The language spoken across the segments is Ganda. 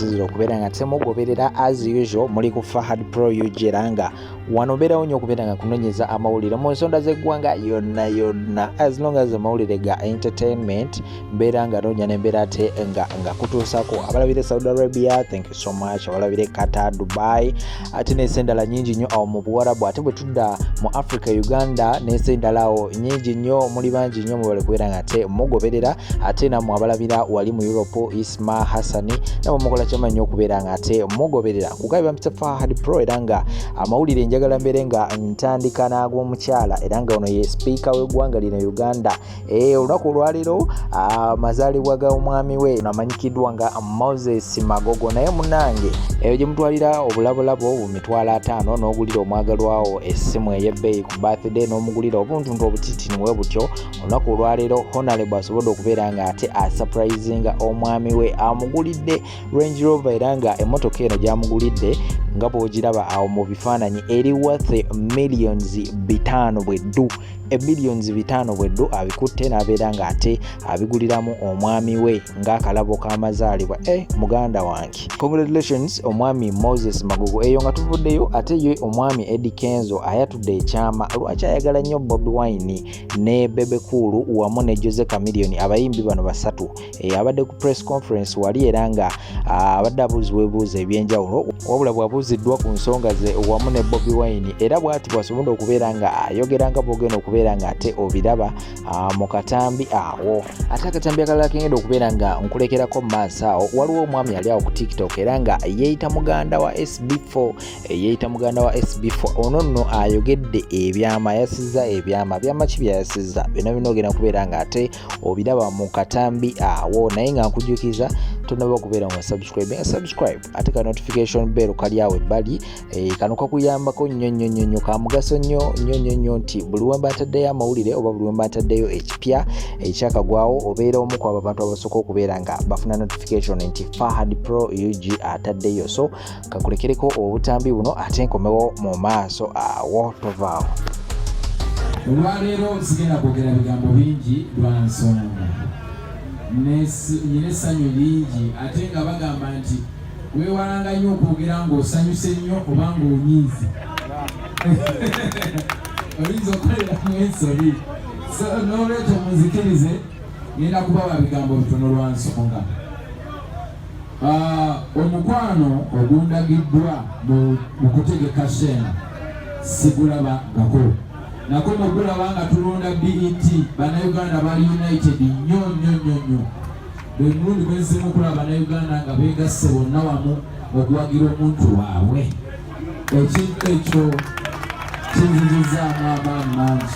zira okubeera nga temugoberera as usual muli ku fahad pro ug era nga wano obeerawo nyo okubeera nga kunonyeza amawulire mu nsonda z'eggwanga yonna yonna as long as amawulire ga entertainment mbeera nga noonya nembeera ate nga nga kutuusako abalabire saudi arabia thank you so much abalabire qatar dubai ate n'ensi endala nyingi nnyo awo mu buwarabu ate bwe tudda mu africa uganda n'ensi endala awo nyingi nnyo muli bangi nnyo mwebale kubeera nga ate mugoberera ate namwe abalabira wali mu europe isma hassani namwe mukola kyamanyi nnyo okubeera nga ate mugoberera kugabi bampita fahad pro era nga amawulire njagala mbeere nga ntandika n'ag'omukyala era nga ono ye sipiika w'eggwanga lino uganda Eh, olunaku olwaleero ah, amazaalibwa ga omwami we amanyikiddwa nga moses magogo naye munange eyo eh, gyemutwalira obulabulabo bumitwalo ataano n'ogulira omwagalwawo essimu ey'ebbeeyi ku birthday n'omugulira obuntuntu obutitini we butyo olunaku olwaleero honalebo asobodde okubeera nga ate asupurizinga omwami we amugulidde range rover era nga emmotoka eno gyamugulidde nga bwogiraba awo mu bifaananyi eri wathe millions bitaano bwe ddu ebillions bitaano bweddu abikutte n'abeera ng'ate abiguliramu omwami we ng'akalabo k'amazaalibwa e eh, muganda wange congratulations omwami moses magugu eyo nga tuvuddeyo ate ye omwami edi kenzo ayatudde ekyama lwaki ayagala nnyo bobi wine ne bebekuulu wamu ne jose camilion abayimbi bano basatu eh, abadde ku press conference wali era nga ah, abadde abuuzibwa ebibuuzo ebyenjawulo wabula bwabuuziddwa ku nsonga ze wamu ne bobi wine era bwati bwasobodde okubeera nga ayogera nga bwogenda okubeera nga ate obiraba ah, mu katambi awo ate akatambi akalala kengenda okubeera nga nkulekerako mu maaso awo waliwo omwami ali awo ku tiktok era nga yeeyita muganda wa sb4 eh, yeeyita muganda wa sb4 ono nno ayogedde ebyama yasiza ebyama byama ki byayasiza byona bina ogenda kubeera nga ate obiraba mu katambi awo naye nga nkujukiza tonaba okubeera nga subscribe nga subscribe ate ka notification bell kali awo ebbali eh, kano kakuyambako nnyo nnyo nnyo nnyo kamugaso nnyo nnyo nnyo nnyo nti buli wemba ataddeyo amawulire oba buli wemba ataddeyo ekipya ekyakagwawo eh, obeera omu ku abo abantu abasooka okubeera nga bafuna notification nti fahad pro ug ataddeyo so kakulekereko obutambi buno ate nkomewo mu maaso awo tovaawo olwaleero sigenda kwogera bigambo bingi lwa nsonga nyina essanyu lingi ate nga bagamba nti weewalanga nnyo okwogera ng'osanyuse nnyo oba ng'onyiize oyinza okukoleramu ensobi so n'olwekyo muzikirize ngenda kubawa bigambo bitono lwa nsonga Uh, omukwano ogundagiddwa mu kutegeka sheema sigulaba ngako nako mugulaba nga tulonda bet banauganda bali united nyo nyo nyo nyo buli mulundi gwenzimu okulaba banauganda nga begasse bonna wamu okuwagira omuntu waabwe ekintu ekyo kinzizizaamu amaanyi mangi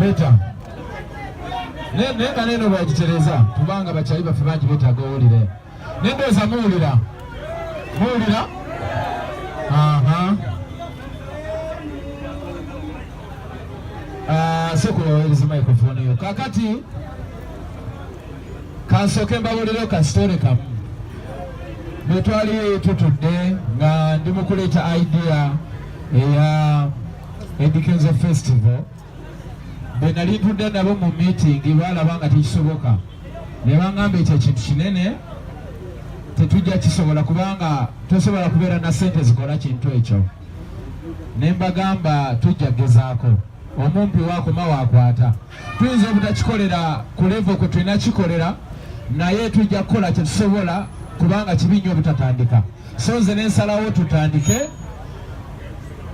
beta naye nga neno bwagitereza kubanga bakyayi baffe bangi betaaga owulire naye ndowooza muwulira muwulira ah, sokola owereza microphone yo kakati kansooke mbabuulireo kasitoole kamu bwe twali tutudde nga ndi mu kuleeta idea eya edikenzo festival bwe nali ntudde nabo mu miitingi baalaba nga tekisoboka ne bangamba ekyo ekintu kinene tetujja kisobola kubanga tosobola kubeera na sente zikola kintu ekyo ne mbagamba tujja gezaako omumpi wakoma wakwata tuyinza obutakikolera ku levo kwe tulina kikolera naye tujja kukola kyetusobola kubanga kibi nnyo obutatandika so nze nensalawo tutandike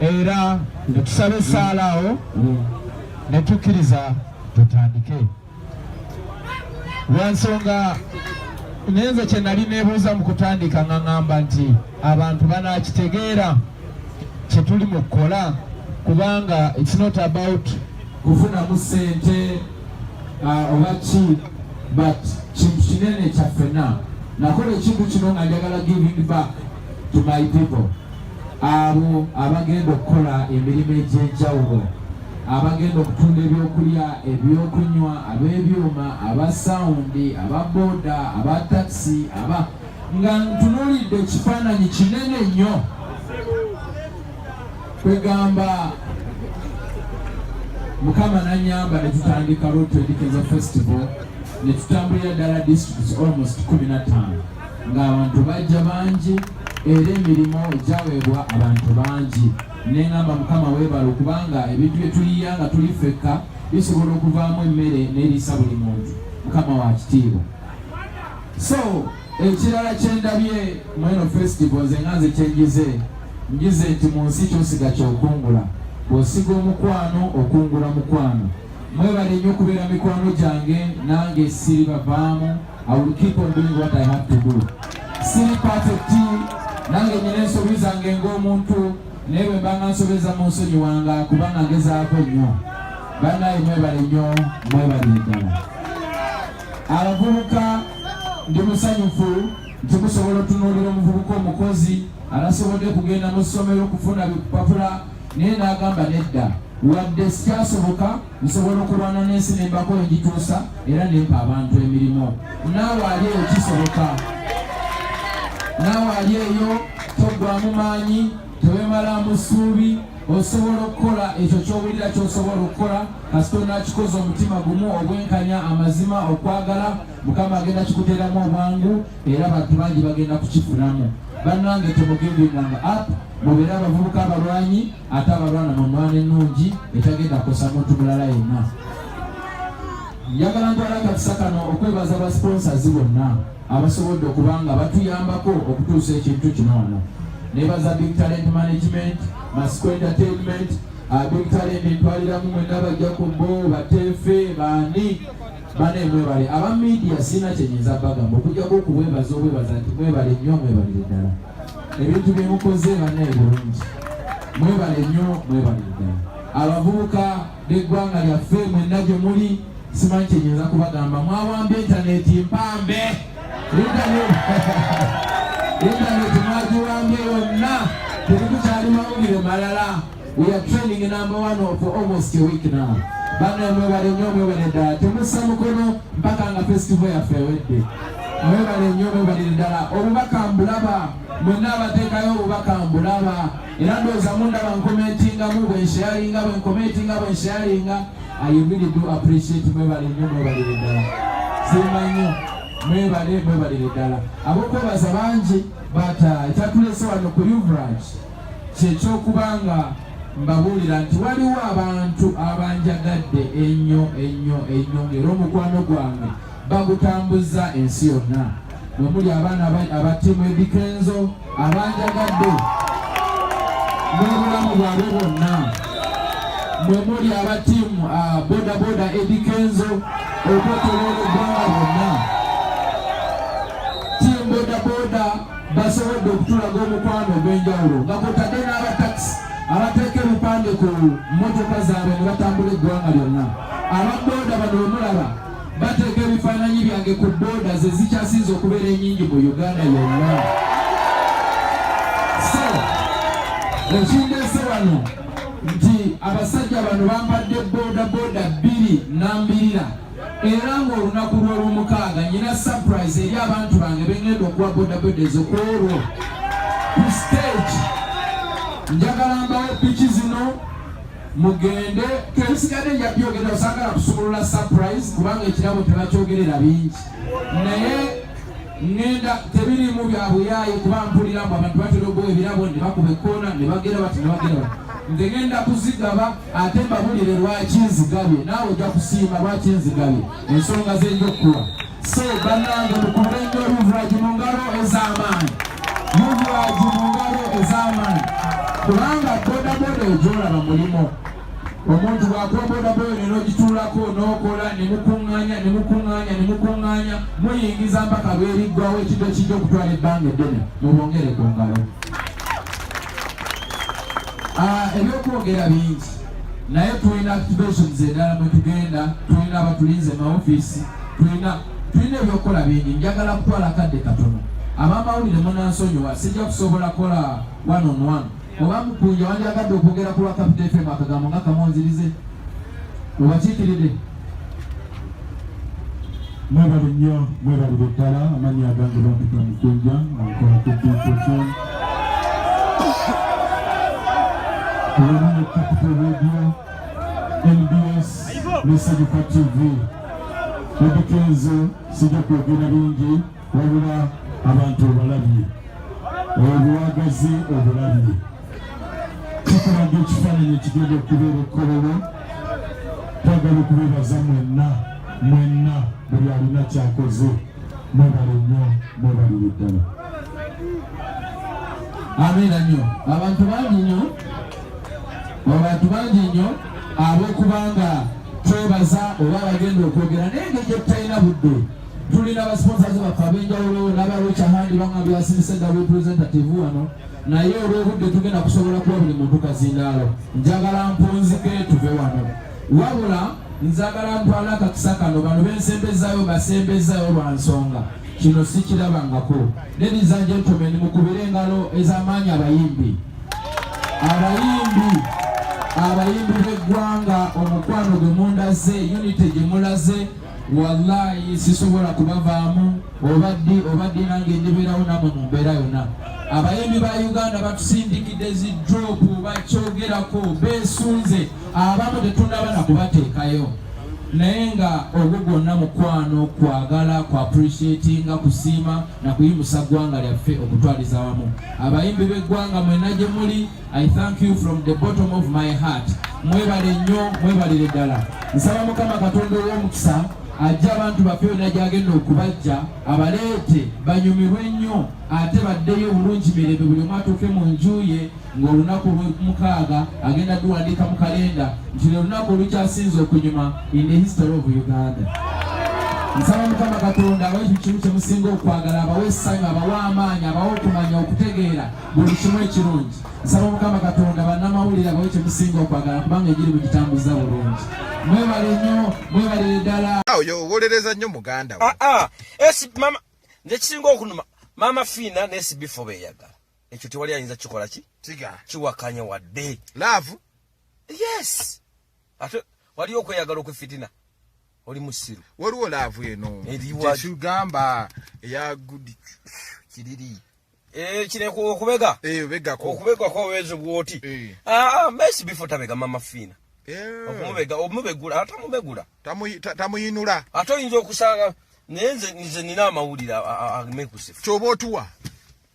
era netusaba esaala awo netukkiriza tutandike lwansonga nenze kyenali nebuuza mu kutandika nga ŋamba nti abantu banakitegeera kyetuli mu kukola kubanga it's not about kufunamu sente uh, oba ki but kintu kinene kyaffena nakola ekintu kino nga njagala giving back to my people abo abagenda okukola emirimu egy'enjawulo abagenda okutunda ebyokulya ebyokunywa ab'ebyuma aba sawundi aba boda aba takisi aba nga ntunuulidde ekifaananyi kinene nnyo kwegamba mukama nanyamba netutandika road to education festival netutambulira ddala districts almost 15 ng'abantu bajja bangi era emirimu egyaweebwa abantu bangi nengamba mukama webala okubanga ebintu byetuyiya nga tuli fekka bisobola okuvaamu emmere neriisa buli muntu mukama wa kitiibwa so ekirala kyendabye mweno festival nze nga nze kyenjize njize nti mu nsi kyosiga kyokungula bwosiga omukwano okungula mukwano mwebale nnyo okubeera mikwano gyange nange siri bavaamu i will keep on doing what i have to do siri perfect nange nyina ensobi zange ng'omuntu naye bwe mbanga nsobeza mu nsonyi wanga kubanga ngezaako nnyo banaye mwebale nnyo mwebale ddala abavubuka ndi musanyufu nti musobola otunuulira omuvubuka omukozi alasobodde kugenda mu ssomero okufuna bipapula naye n'agamba nedda wadde sikyasoboka nsobola okulwana n'ensi nembako engituusa era nempa abantu emirimu naawe ali eyo kisoboka naawe ali eyo toggwamu maanyi tewemala mu ssuubi osobola okukola ekyo kyowulira kyosobola okukola kasita onakikoza omutima gumu obwenkanya amazima okwagala mukama agenda kikuteeramu obwangu era bantu bangi bagenda kukifunamu bannange temugimbinganga app mubeere abavubuka abalwanyi ate abalwana mu mwana ennungi etagenda kukosa muntu mulala yenna njagala ntwala akakisa kano okwebaza ba sponsors bonna abasobodde okuba nga batuyambako okutuusa ekintu kino wano nebaza big talent management masco entertainment ah, big talent entwaliramu mwena bajja ku bo bateefe baani bane mwebale aba media sina kyenyinza bagamba okujjako okubwebaza obwebaza nti mwebale nnyo mwebalire ddala ebintu byemukoze banaye bulungi mwebale nnyo mwebalire ddala abavubuka n'eggwanga lyaffe mwenna gye muli simanyi kyenyinza kubagamba mwawamba intaneti mpambe intaneti mwagiwambye yonna tebikukyali mawulire malala we are training number one of almost a week now bana mwebale nyo mwebale ddala temussa mukono mpaka nga festival yaffe ewedde mwebale nyo mwebalire ddala obubaka mbulaba mwenna abateekayo obubaka mbulaba era ndowooza mundaba nkomentingamu bwensheyalinga bwenkomentinga bwensheyalinga i really do appreciate mwebale nnyo mwebalire ddala simba nnyo mwebale mwebalire ddala abokwebaza bangi but uh, ekyatulese wano ku uvrage kyekyokuba nga mbabuulira nti waliwo abantu abanjagadde ennyo ennyo ennyo ngaera omukwano gwange bagutambuza ensi yonna omuli abaana aba ttiimu edikenzo abanjagadde n'obulamu bwabwe bwonna mwe muli aba ttiimu ah, bodaboda edikenzo okwetoloola eggwanga bonna ttiimu bodaboda basobodde okutulaga omukwano ogw'enjawulo nga kwotadde n'abatakisi abateeka ebipande ku mmotoka zaabwe ne batambula eggwanga lyonna ababoda bano bemulaba bateeka ebifaananyi byange ku booda ze zikyasinze okubeera enyingi mu uganda yonna so ekindeese wano nti abasajja bano bambadde booda booda bbiri nambirira era ng'olunaku lw'olwomukaaga nyina surprise eri abantu bange bengenda okuwa booda booda ezo ku olwo ku stage njagala mbawo piki zino mugende twebisigadde nja byogera osagala kusumulula surprise kubanga ekirabo tebakyogerera bingi naye ngenda tebirimu byabuyaaye kuba mpulira mbu abantu batera ogowa ebirabo ne bakuba ekkoona ne bagera bati ne bagera bati nze ngenda kuzigaba ate mbabulire lwaki nzigabye naawe ojja kusiima lwaki nzigabye ensonga z'enjokkuwa Se bannange mukube nnyo Yuvragi mu ngalo ez'amaanyi, Yuvragi mu ngalo ez'amaanyi, kubanga bodaboda egyolaba mulimu omuntu bwakuwa bodaboda neno ogituulako n'okola ne mukuŋŋaanya ne mukuŋŋaanya ne mukuŋŋaanya muyingiza mpaka lweriggwawo ekintu ekijja okutwala ebbanga eddene mubongere ku ngalo ah, ebyokwogera bingi naye tulina activations endala mwetugenda tulina abatulinze maofiisi tulina tulina ebyokukola bingi njagala kutwala kadde katono abamawulire munansonyiwa sijja kusobola kola one on one oba mukunja wandyagadde okwogera ku lwa kapita fm akagambo nga kamonzirize obakiikiride mwebale nnyo mwebalire ddala amanyi agange bampita mukunja ankola ku bipoti Capital Radio, NBS, Message for TV. Ebikenze sijja kwogera bingi wabula abantu obalabye obwagazi obulabye kikulaga ekifaananyi ekigenda okubeera ekkolero twagala okubebaza mwenna mwenna buli alina kyakoze mwebale nnyo mwebalire ddala abeera nnyo abantu bangi nnyo abantu bangi nnyo ab'okubanga twebaza oba abagenda okwogera naye engeri gye tutalina budde tulina abasponsazi baffe ab'enjawulo n'abalokya handi banga byasinise nga representative wano naye olw'obudde tugenda kusobola kuba buli muntu kazindaalo njagala mpunzike tuve wano wabula nzagala ntwala akakisa kano bano bensembezayo basembezayo lwa nsonga kino sikirabangako ladies and gentlemen mukubire engalo ez'amaanyi abayimbi abayimbi abayimbi b'eggwanga omukwano gwe mundaze unity gye mulaze wallahi sisobola kubavaamu oba ddi oba ddi nange ndibeerawo namwe mu mbeera yonna abayimbi ba uganda batusindikidde zi dropu bakyogerako beesunze abamu tetunaba na kubateekayo naye nga ogwo gwonna mukwano kwagala ku appreciatinga kusiima na kuyimusa ggwanga lyaffe okutwaliza wamu abayimbi b'eggwanga mwena gye muli i thank you from the bottom of my heart mwebale nnyo mwebalire ddala nsaba mukama katonda ow'omukisa ajja abantu baffe yonna gyagenda okubajja abaleete banyumirwe nnyo ate baddeyo bulungi mirembe buli omu atuuke mu nju ye ng'olunaku olw'omukaaga agenda duwandiika mu kalenda nti lwe lunaku olukyasinze okunyuma in the history of uganda nsaba mukama katonda abawe ekyo kimu kye musinga okwagala abawe essanyu abawe amaanyi abawe okumanya okutegeera buli kimu ekirungi nsaba mukama katonda bannamawulire abawe kye musinga okwagala kubanga egiri mu kitambuza bulungi mwebale nnyo mwebalire ddala oyo owolereza nnyo muganda we ah, ah. nze kisinga okunuma maama fiina nesibifoba eyagala ekyo tewali ayinza kikola ki kiwakanya wadde laavu yes ate waliyo okweyagala okwefitina oli musiru waliwo laavu eno kyekigamba eya good kiriri eh, kireka okubega eh, obegako okubega kwawezi bwoti eh. ah, mesi bifo tabega mama fiina okumubega omubegula ate omubegula tamuyinula ate oyinza okusanga naye nze nina amawulire amekusifu kyoba otuwa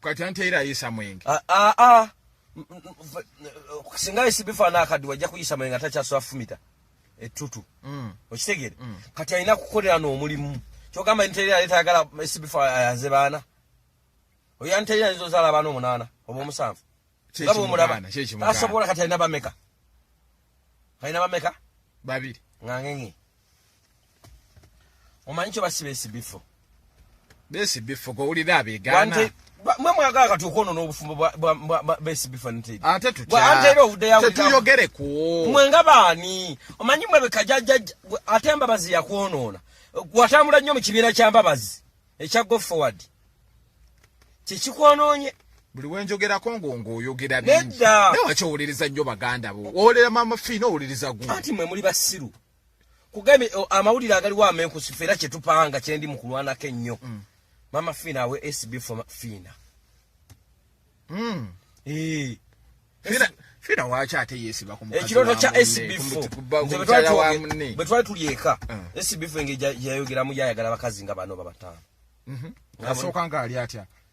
kati ante era ayisa mwenge a a a singa isi bifa na akadi wajja kuyisa mwenge atakyaswa fumita etutu mm. okitegere mm. kati alina kukolera n'omulimu kyogamba nti era aleeta agala isi bifa ayanze baana oyo ante era ayinza ozaala abaana omunaana oba omusanvu nga bwomulaba asobola kati alina bameka alina bameka babiri ngangenge omanyi kyo basiba esibifo besi bifo go ulira abegana mwe mwagala kati okwonona obufumbo bwa besi bifo nti ate tutya ate era ovude yawe tetuyogere ku mwe nga baani omanyi mwe bekajaja ate mbabazi ya kwonona watambula nnyo mu kibiina kya mbabazi ekya go forward kyekikwononye buli wenjogerako ngongo oyogera bingi naye wakyowuliriza nnyo baganda bo owulira mama fiina owuliriza gu anti mwe muli basiru kugambye amawulire agaliwo amenkusifu era kyetupanga kyendi mu kulwanako ennyo mm. mama fiina awe sb fo fiina mm. eh. fiina waki ate yesiba ekirooto kya sb fo bwe twali tuli eka mm. sb fo engeri yayogeramu yayagala abakazi nga bano babataano mhm. asooka nga ali atya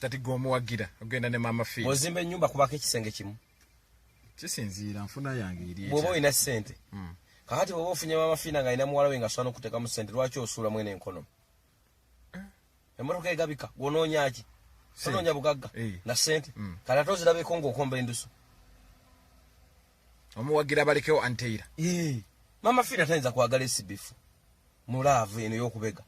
kati gwe omuwagira ogenda ne maama fi ozimba ennyumba kubako ekisenge kimu kisinziira nfuna yange eri bwoba olina ssente hmm. kakati bwoba ofunye maama fiina nga alina muwala we nga sobola nokutekamu ssente lwaki osuula mwene enkono eh. emotoka egabika gwonoonyaki onoonya bugagga eh. na ssente hmm. kati ate ozirabeko ngaokomba endusu omuwagira balekewo anteira eh. maama fiina tayinza kwagala esibifu mulaavu eno yokubega